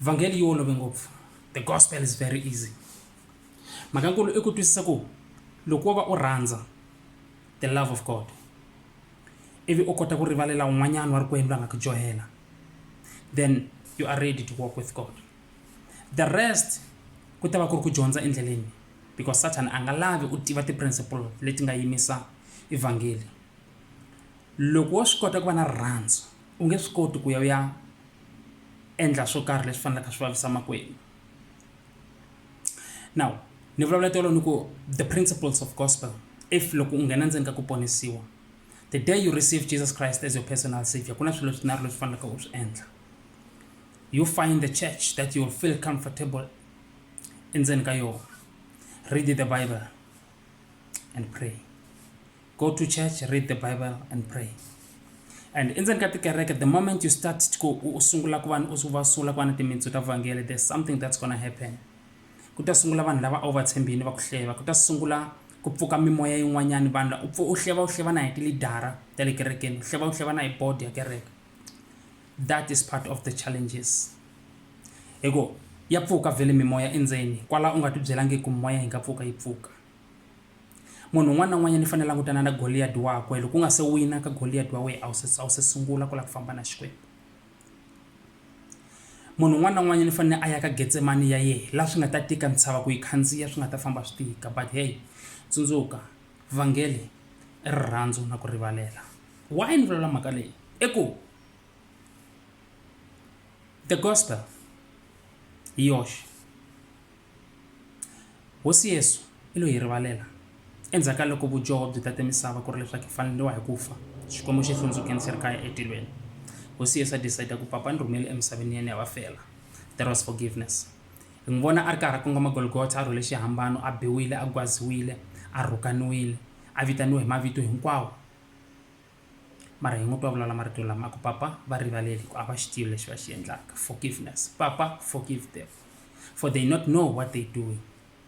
vhangeli yi olove ngopfu the gospel is very easy mhaka nkulu i ku twisisa ku loko wo va u rhandza the love of god ivi u kota ku rivalela un'wanyana wa rikwenu la nga ku dyohela then you are ready to walk with god the rest ku ta va ku ri ku dyondza endleleni because satan a nga lavi u tiva ti-principle leti nga yimisa evhangeli loko wo swi kota ku va na rirhandzu u nge swi koti ku ya u ya endla swo karhi leswi faneleke swi vavisa makwenu now ni vulavula tolo ni ku the principles of gospel if loko u nghena ndzeni ka ku ponisiwa the day you receive jesus christ as your personal savior ku na swilo swinharhu leswi faneleke u swi endla you find the church that you will feel comfortable endzeni ka yona read the bible and pray go to church read the bible and pray and endzeni ka tikereke the moment you start ku u sungula ku va u va sungula ku va na timitsu ta vhangele there's something that's gonna happen ku ta sungula vanhu lava a wu va tshembini va ku hleva ku ta sungula ku pfuka mimoya yin'wanyana vanhu u pfu u hleva u hleva na hi tilidara ta le kerekeni u hleva u hleva na hi board ya kereke that is part of the challenges hi ku ya pfuka vhele mimoya endzeni kwala u nga ti byelangi ku mimoya yi nga pfuka yi pfuka Munhu un'wana na un'wanyana i fanele a langutana na Goliyati wakwe, loko u nga se wina ka Goliyati wa wena a wu se a wu se sungula ku lava ku famba na Xikwembu. Munhu un'wana na un'wanyana i fanele a ya ka Getsemani ya yehe laha swi nga ta tika ntshava ku yi khandziya swi nga ta famba swi tika but hey tsundzuka vhangeli i rirhandzu na ku rivalela. Why ni vulavula mhaka leyi i ku the gospel hi yoxe Hosi Yesu i lo hi rivalela. Endzhaku ka loko vudyoho byi tate misava ku ri leswaku hi faneriwa hi ku fa, Xikwembu xi hlundzukeni xi ri kaya etilweni. Hosi Yesu a decide ku Papa ni rhumele emisaveni ya ni ya va fela. That was forgiveness. Hi n'wi vona a ri karhi a kongoma Golgotha, a rhwele xihambano, a biwile, a gwaziwile, a rhukaniwile, a vitaniwe hi mavito hinkwawo. mara hi ngo twa vulala marito lama ku papa va rivaleli ku a va xi tivi lexi va xi endlaka forgiveness papa forgive them for they not know what they doing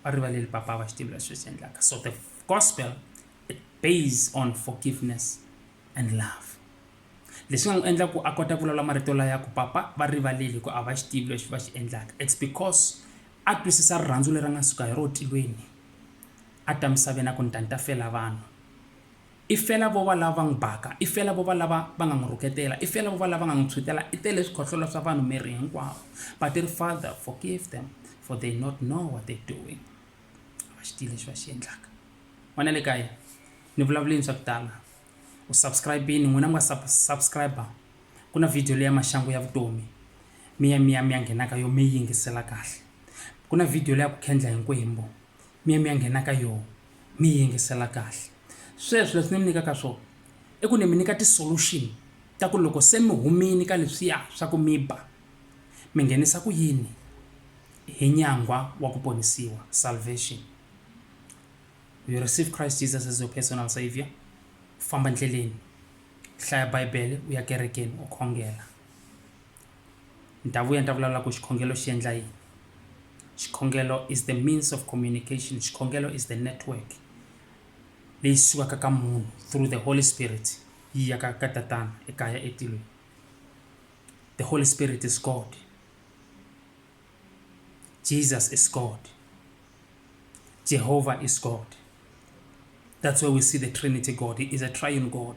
va rivaleli papa a va xi tivi lexi va xi endlaka so the gospel it based on forgiveness and love leswi nga n'wi endla ku a kota ku vulavula marito laya ku papa va rivaleli ku a va xi tivi lexi va xi endlaka it's because a twisisa rirhandzu leri a nga suka hi ro tilweni a ta misaveni a ku ni ta ni ta fela vanhu I fela vo va lava va n'wi baka, i fela vo va lava va nga n'wi rhuketela, i fela vo va lava va nga n'wi tshwutela, i tele swikhohlola swa vanhu miri hinkwawo. But i ri, Father, forgive them, for they not know what they're doing. A va xi tivi lexi va xi endlaka. N'wana le kaya, ni vulavulini swa ku tala. U subscribe-ini, n'wina mi nga sub, subscribe-a. Ku na video leya maxangu ya vutomi, mi ya mi ya mi ya nghena ka yo mi yi yingisela kahle. Ku na video leya ku khendla hi nkwembu. mi ya mi ya nghena ka yoho mi yi yingisela kahle sweswo leswi ni mi nyikaka swona i ku ni mi nyika ti-solution ta ku loko se mi humile ka leswiya swa ku mi ba mi nghenisa ku yini hi nyangwa wa ku ponisiwa salvation you receive Christ Jesus as your personal saviour famba ndleleni hlaya bibele u ya kerekeni u khongela. Ni ta vuya ni ta vulavula ku xikhongelo xi endla yini. Xikhongelo is the means of communication, xikhongelo is the network leyi sukaka ka munhu through the Holy Spirit yi ya ka ka tatana ekaya etilweni. The Holy Spirit is God. Jesus is God. Jehovah is God. That's where we see the Trinity God. He is a triune God.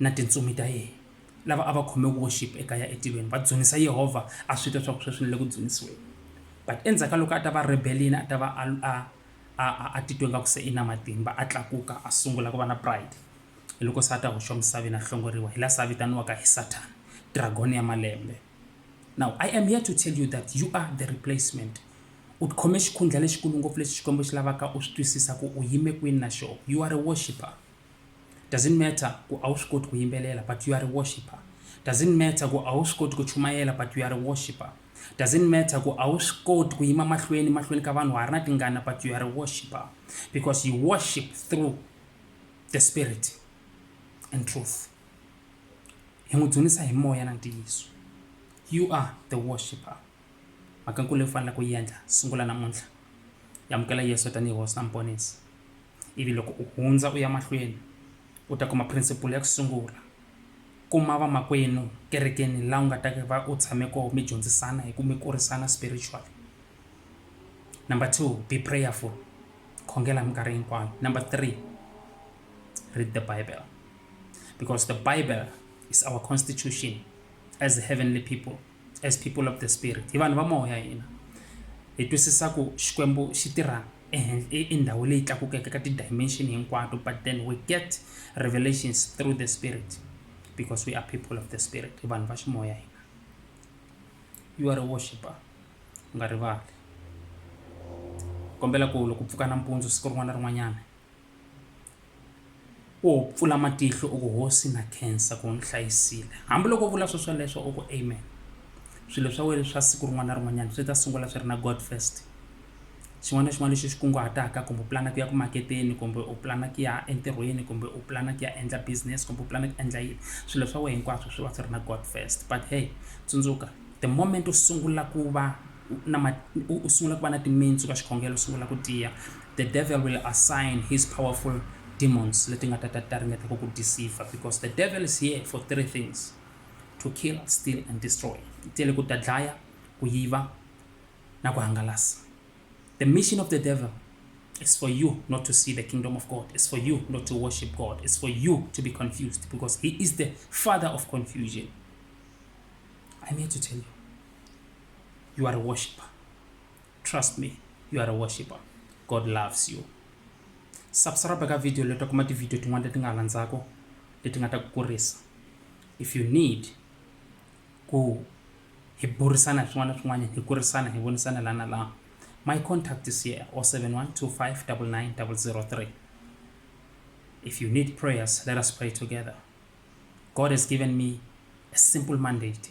na tintsumi ta yena. Lava a va khome worship ekaya etilweni va dzunisa Yehovha a swi twa swa ku sweswi ni le ku dzunisiweni. But endzhaku ka loko a ta va rebel-ini a ta va a a a a a titwe nga ku se i na matimba a tlakuka a sungula ku va na pride hi loko se a ta hoxiwa misaveni a hlongoriwa hi laha se a vitaniwaka hi Satan dragon ya malembe. Now I am here to tell you that you are the replacement u khome xikhundla lexikulu ngopfu lexi Xikwembu xi lavaka u swi twisisa ku u yime kwini na xoho you are a worshipper. doesn't matter ku a wu swi koti ku yimbelela but you are a worshiper doesn't matter ku a wu swi koti ku chumayela but you are a worshiper doesn't matter ku a wu swi koti ku yima mahlweni mahlweni ka vanhu wa ha ri na tingana but you are a worshiper because you worship through the spirit and truth hi n'wi dzunisa hi moya na ntiyiso you are the worshiper mhaka nkulu leyi faneleke ku yi endla sungula namuntlha yamukela yesu tanihi hosi na muponisi Ivi loko u hundza u ya mahlweni, u ta kuma phirinsipula ya ku sungula. Kuma vamakwenu kerekeni laha u nga ta va u tshame kona mi dyondzisana hi ku mi kurisana spiritually. Number two, be prayerful. Khongela hi minkarhi hinkwayo. Number three, read the Bible because the Bible is our constitution as heavenly people. as people of the spirit hi vanhu va moya hina hi twisisa ku xikwembu xi tirha i ndhawu leyi tlakukeke ka ti-dimension hinkwato but then we get revelations through the spirit because we are people of the spirit i vanhu va ximoya hina you are a worshiper u nga rivali kombela ku loko pfuka nampundzu siku rin'wana na rin'wanyana Wo pfula matihlo u ku hosi na khensa ku u ni hlayisile hambiloko u vula swo sweleswo u ku amen swilo swa wena swa siku rin'wana na rin'wanyana swi ta sungula swi ri na god first xin'wana na xin'wana lexi xi kunguhataka kumbe u pulana ku ya ku maketeni kumbe u pulana ku ya entirhweni kumbe u pulana ku ya endla business kumbe u pulana ku endla yini swilo swa wena hinkwaswo swi va swi ri na god first but hey tsundzuka the moment u sungula ku va na u sungula ku va na timitsu ka xikhongelo sungula ku tiya the devil will assign his powerful demons leti nga ta ta ta ringeta ku ku deceive because the devil is here for three things to kill steal and destroy tele ku ta dlaya ku yiva na ku hangalasa the mission of the devil is for you not to see the kingdom of god it's for you not to worship god it's for you to be confused because he is the father of confusion i'm here to tell you you are a worshiper. Trust me, you are a worshiper. God loves you. Subscribe ka video leto kuma ti video tin'wana leti nga landzako leti nga ta ku kurisa. If you need ku hi burisana hi swin'wana na swin'wana hi kurisana hi vonisana lana laha my contact is here 0712599003 if you need prayers let us pray together god has given me a simple mandate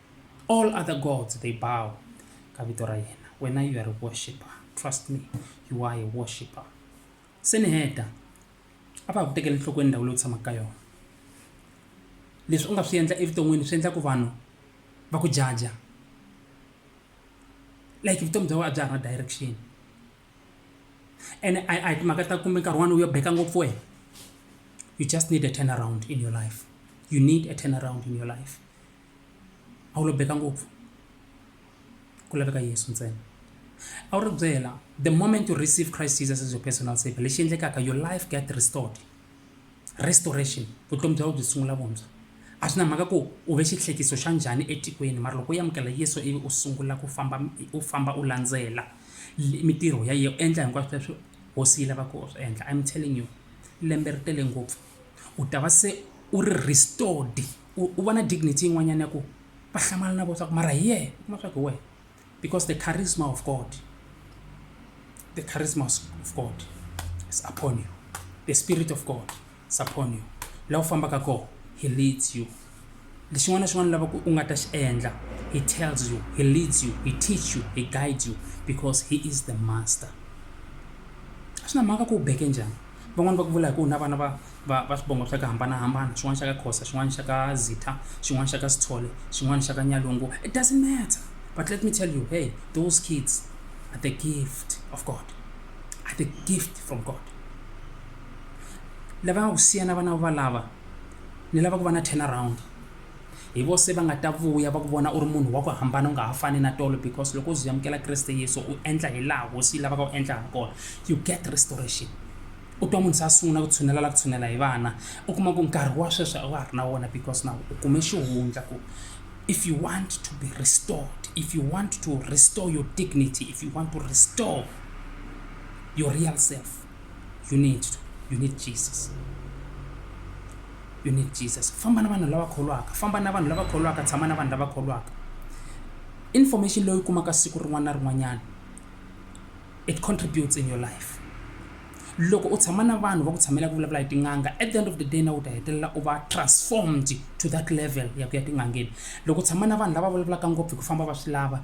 all other gods they bow ka vito ra yena wena you are a worshipper trust me you are a worshipper se ni heta a va ha ku tekeli nhlokweni ndhawu leyi u tshamaka ka yona leswi u nga swi endla evuton'wini swi endla ku vanhu va ku jaja like vutomi bya wena a bya ha ri na direction ene a hi timhaka ta kumbe nkarhi wani u yo beka ngopfu wena you just need a turn around in your life you need a turn around in your life a wu lo beka ngopfu ku laveka yesu ntsena a wu ri byela the moment you receive christ jesus as your personal savior lexi endlekaka your life get restored restoration vutomi bya wena byi sungula vuntshwa a swi na mhaka ku u ve xihlekiso xa njhani etikweni mara loko u amukela yesu ivi u sungula ku famba u famba u landzela mitirho ya yena u endla hinkwaswo leswi hosi yi lavaka u swi endla im telling you lembe ri tele ngopfu u ta va se u ri restored u vona dignity yin'wanyana ya ku va hlamala na vona swa ku mara hi yena u kuma swa ku hi wena because the charisma of God the charisma of God is upon you the spirit of God is upon you laha u fambaka kona he leads you lexin'wana na xin'wana lava ku u nga ta xi endla he tells you he leads you he teach you he guides you because he is the master a swi na mhaka ku u beke njhani Van'wani va ku vula hi ku na vana va va va swivongo swa ku hambanahambana xin'wana xa ka Khoza, xin'wana xa ka Zitha, xin'wana xa ka Sithole, xin'wana xa ka Nyalungu, it doesn't matter but let me tell you hey those kids are the gift of God, are the gift from God. Lava nga ku siya na vana valava ni lava ku va na turn around. hi vose va nga ta vuya va ku vona u ri munhu wa ku hambana u nga ha fani na tolo because loko u zi amukela kreste yesu u endla hi laha hosi yi lavaka u endla ha kona you get restoration u twa munhu se a sungula ku tshunela la ku tshunela hi vana u kuma ku nkarhi wa sweswi a wa ha ri na wona because na u kume xihundla ku if you want to be restored if you want to restore your dignity if you want to restore your real self you need to you need jesus you need jesus famba na vanhu lava kholwaka famba na vanhu lava kholwaka tshama na vanhu lava kholwaka information leyi kumaka siku rin'wana na rin'wanyana it contributes in your life loko u tshama na vanhu va ku tshamela ku vulavula hi tin'anga at the end of the day na u ta hetelela u va transformed to that level ya ku ya tin'angeni loko u tshama na vanhu lava vulavulaka ngopfu hi ku famba va swi lava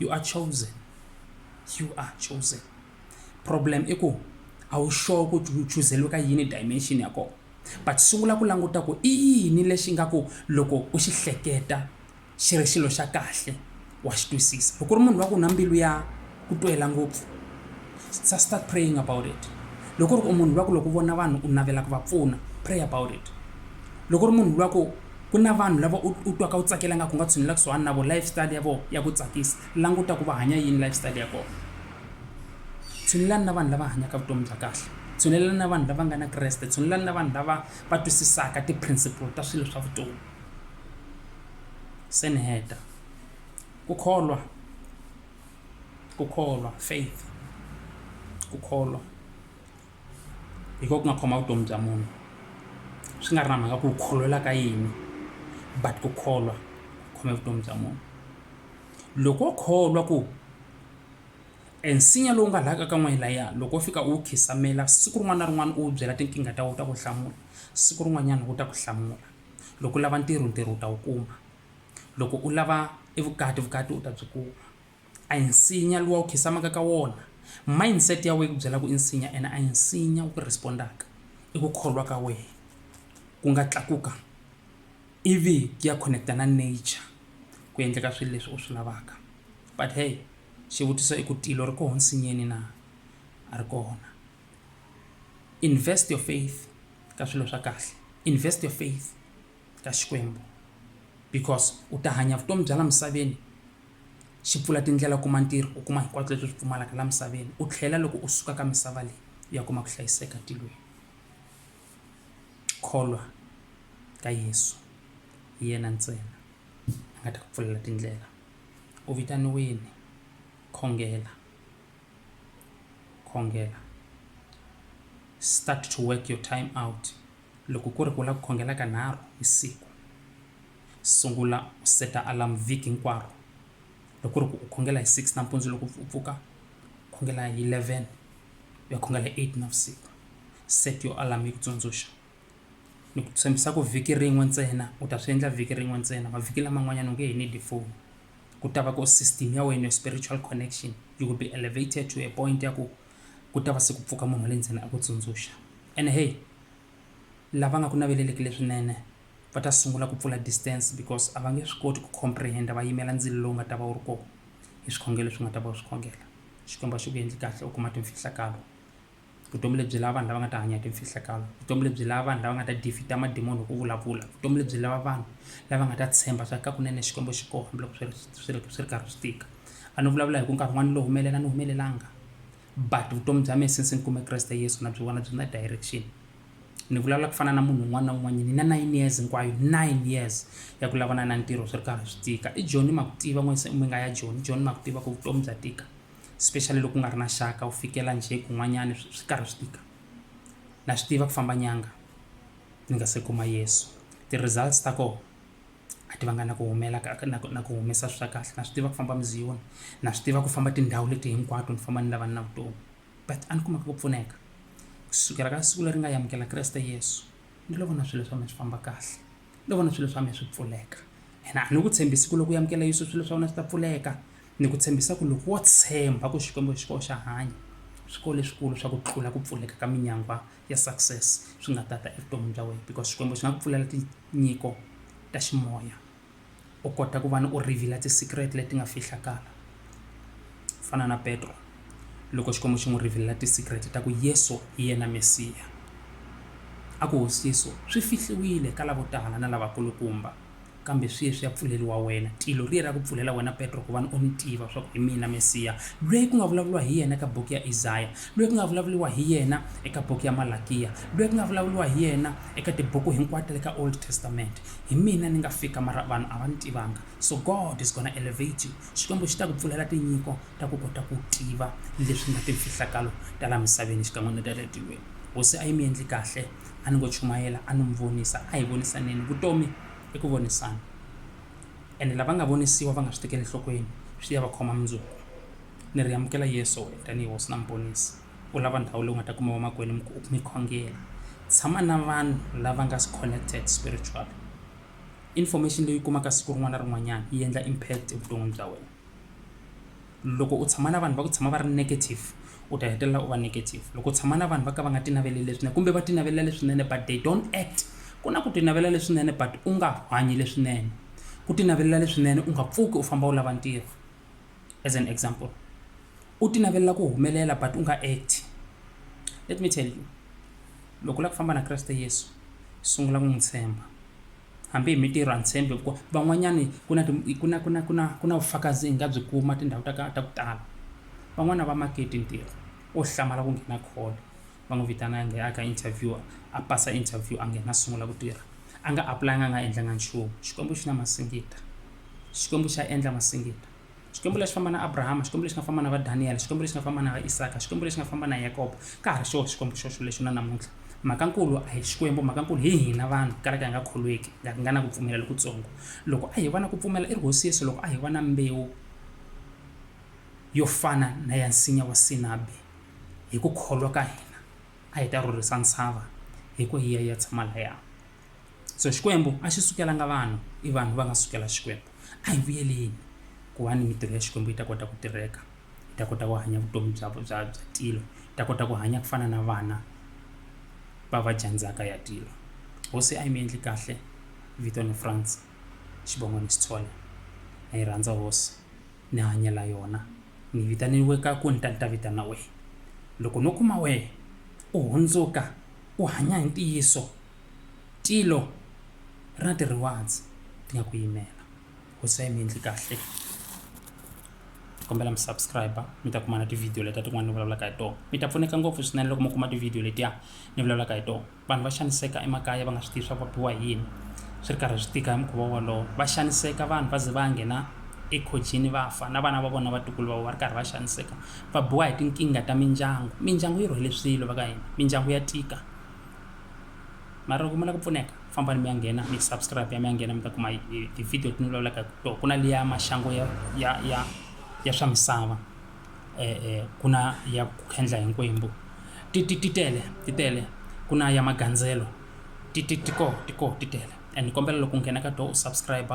you are chosen you are chosen problem i ku a wu sure ku u chuzeliwe ka yini dimension ya kona but sungula ku languta ku i yini lexi nga ku loko u xi hleketa xi ri xilo xa kahle wa xi twisisa loko u ri munhu wa ku na mbilu ya ku twela ngopfu sa start praying about it loko ri ku munhu lwa ku loko vona vanhu u navela ku va pfuna pray about it loko ri munhu lwa ku ku na vanhu lava u u twaka u tsakela nga ku nga tshinela kusuhani na vona life style ya vona ya ku tsakisa languta ku va hanya yini life style ya kona tshunelelani na vanhu lava hanyaka vutomi bya kahle tshunelelani na vanhu lava nga na kreste tshunelelani na vanhu lava va twisisaka ti-principle ta swilo swa vutomi se ni heta ku kholwa ku kholwa faith ku kholwa hi ko ku nga khoma vutomi bya munhu swi nga ri na mhaka ku u kholelwa ka yini but ku kholwa ku khome vutomi bya munhu loko wo kholwa ku e nsinya lowu nga laha ka ka n'wehe layiya loko wo fika u wu khisamela siku rin'wana na rin'wana u wu byela tinkingha ta wu ta ku hlamula siku rin'wanyana wu ta ku hlamula loko u lava ntirho ntirho u ta wu kuma loko u lava e vukati vukati u ta byi kuma. A hi nsinya luwa u khisamaka ka wona. Mindset ya wehe yi ku byela ku i nsinya ene a hi nsinya wu ku respond-aka. I ku kholwa ka wehe ku nga tlakuka ivi ku ya connect-a na nature ku endleka swilo leswi u swi lavaka. But hey xivutiso i ku tilo ri koho nsinyeni na? A ri kona. Invest your faith ka swilo swa kahle. Invest your faith ka Xikwembu because u ta hanya vutomi bya la misaveni. xi pfula tindlela kuma ntirho u kuma hinkwaswo leswi swi pfumalaka laha misaveni u tlhela loko u suka ka misava leyi u ya kuma ku hlayiseka tilweni kholwa ka Yeso hi yena ntsena a nga ta ku pfulela tindlela u vitaniwini khongela khongela start to work your time out loko ku ri ku u lava ku khongela ka nharhu hi siku. sungula u seta alarm vhiki hinkwaro loko ri ku u khongela hi six nampundzu loko u pfuka khongela hi eleven u ya khongela hi eight navusiku set your alarm yi ku tsundzuxa ni ku tshembisa ku vhiki rin'we ntsena u ta swi endla vhiki rin'we ntsena mavhiki laman'wanyana u nge he need phone ku ta va ku system ya wena spiritual connection you will be elevated to a point ya ku ku ta va se ku pfuka munhu wa le ndzeni a ku tsundzuxa ene hey lava nga ku naveleleki leswinene va ta sungula ku pfula distance because a va nge swi koti ku comprehenda va yimela ndzilo lowu nga ta va wu ri kona hi swikhongelo leswi nga ta va wu swi khongela xikwembu a xi ku endli kahle u kuma timfihlakalo vutomi lebyi lava vanhu lava nga ta hanya hi timfihlakalo vutomi lebyi lava vanhu lava nga ta defeat-a madimoni hi ku vulavula vutomi lebyi lava vanhu lava nga ta tshemba swa ka kunene xikwembu xi kona hambiloko swi ri swi ri swi ri karhi swi tika a ni vulavula hi ku nkarhi wun'wana ni lo humelela ni humelelanga but vutomi bya mina since ni kume kreste yesu na byi vona byi na direction ni vulavula ku fana na munhu un'wana na un'wanyini ni na nine years hinkwayo nine years ya ku lavana na ntirho swi ri karhi swi tika i joni ma ku tiva n'wese mi nga ya joni joni ma ku tiva ku vutomi bya tika especially loko ku nga ri na xaka u fikela njhe kun'wanyani swi swi karhi swi tika na swi tiva ku famba nyanga ni nga se kuma yesu ti-results ta kona a ti vanga na ku humela ka na ku na ku humesa swi swa kahle na swi tiva ku famba muziyoni na swi tiva ku famba tindhawu leti hinkwato ni famba ni lava ni na vutomi but a ni kumeka ku pfuneka kusukela ka siku leri nga yamukela kreste yesu ni lo vona swilo swa mina swi famba kahle ni lo vona swilo swa mina swi pfuleka and a ni ku tshembisi ku loko u yamukela yesu swilo swa wena swi ta pfuleka ni ku tshembisa ku loko wo tshemba ku xikwembu xi koxa hanya swi ko leswikulu swa ku tlula ku pfuleka ka minyangwa ya success swi nga tata evuton'wini bya wena because xikwembu xi nga ku pfulela tinyiko ta ximoya u kota ku va ni u reveal ti-secret leti nga fihlakala fana na petro loko xikwembu xi n'wi revelela ti-secret ta ku yesu hi yena mesiya a ku hosiso swi fihliwile ka lavo tala na lavakulukumba Kambe sweswi ya pfuleriwa wena. Tilo riye ra ku pfulela wena Petro, kuvani u ni tiva, swaku hi mina Mesiya, lweyi ku nga vulavuriwa hi yena eka buku ya Izaya, lweyi ku nga vulavuriwa hi yena eka buku ya Malakiya, lweyi ku nga vulavuriwa hi yena eka tibuku hinkwato ta le ka Old Testament. Hi mina ni nga fika, mara vanhu a va ni tivanga. So God is gonna elevate you. Xikwembu xi ta ku pfulela tinyiko ta ku kota ku tiva leswi nga timfihlakalo ta la misaveni xikan'we ni ta le tilweni. Hosi a yi mi yendli kahle, a ni ngo chumayela, a ni mi vonisa, a hi vonisaneni. Vutomi. i ku vonisana ene lava nga vonisiwa va nga swi tekeli enhlokweni swi ya va khoma mundzuku ni ri amukela yesu wena tanihi hosi na muponisi u lava ndhawu leyi u nga ta kuma vamakwenu mi ku- mi khongela tshama na vanhu lava nga connected spiritual information leyi u kumaka siku rin'wana na rin'wanyana yi endla impact evuton'wini bya wena loko u tshama na vanhu va ku tshama va ri negative u ta hetelela u va negative loko u tshama na vanhu va ka va nga tinaveleli leswinene kumbe va tinavelela leswinene but they don't act ku na ku tinavelela leswinene but u nga hanyi leswinene ku tinavelela leswinene u nga pfuki u famba u lava ntirho as an example u tinavelela ku humelela but u nga act let me tell you loko u lava ku famba na kreste yesu sungula ku n'wi tshemba hambi hi mintirho a ni tshembi hi ku van'wanyani ku na ku na ku na ku na ku na vufakazi hi nga byi kuma tindhawu ta ka ta ku tala van'wani a va maketi ntirho wo hlamala ku nghena call va n'wi vitana a nghena a ka interview a pasa interview a nghena a sungula ku tirha a nga apply-anga a nga endlanga nchumu xikwembu xi na masingita xikwembu xa endla masingita. xikwembu lexi famba na abrahama xikwembu lexi nga famba na va daniyele xikwembu lexi nga famba na va isaka xikwembu lexi nga famba na yakobo ka ha ri xoho xikwembu xoxo lexi na namuntlha mhakankulu a hi xikwembu mhakankulu hi hina vanhu kalaka hi nga kholweki nga nga na ku pfumela lokutsongo loko a hi va na ku pfumela i ri hosi yesu loko a hi va na mbewu yo fana na ya nsinya wa sinabi hi ku kholwa ka hina a hi ta rhurhisa ntshava hi ku hiya ya tshama laya so xikwembu a xi sukelanga vanhu i vanhu va nga sukela xikwembu a hi vuyeleni ku va ni mitirho ya xikwembu yi ta kota ku tirheka yi ta kota ku hanya vutomi bya bya bya tilo yi ta kota ku hanya ku fana na vana va va jandzaka ya tilo hosi a yi mi endli kahle vito ni france xivongo ni xitshola na yi rhandza hosi ni hanyela yona ni vitaniwe ka ku ni ta ni ta vitana wehe loko no kuma wehe u hundzuka u hanya hi ntiyiso, tilo ri na ti-rewards ti nga ku yimela. Hosi a yi mi endli kahle. Ni kombela mi subscribe-a mi ta kuma na ti-video letiya tin'wana ni vulavulaka hi tona. Mi ta pfuneka ngopfu swinene loko mi kuma ti-video letiya ni vulavulaka hi tona. Vanhu va xaniseka emakaya va nga swi tivi swa ku va biwa hi yini, swi ri karhi swi tika hi mukhuva wolowo. Va xaniseka vanhu va ze va nghena ekhojini va fa, na vana va vona na vatukulu va vona va ri karhi va xaniseka va biwa hi tinkingha ta mindyangu mindyangu yi rhwele swilo va ka hina mindyangu ya tika mara loko mi lava ku pfuneka fambani mi ya nghena mi subscribe ya mi ya nghena mi ta kuma ti-video ti ni vulavulaka hi tona ku na liya maxangu ya ya ya ya swa misava um ku na ya ku khendla hi nkwembu ti ti ti tele ti tele ku na ya magandzelo ti ti ti koho ti koho ti tele and ni kombela loko u nghena ka tona u subscribe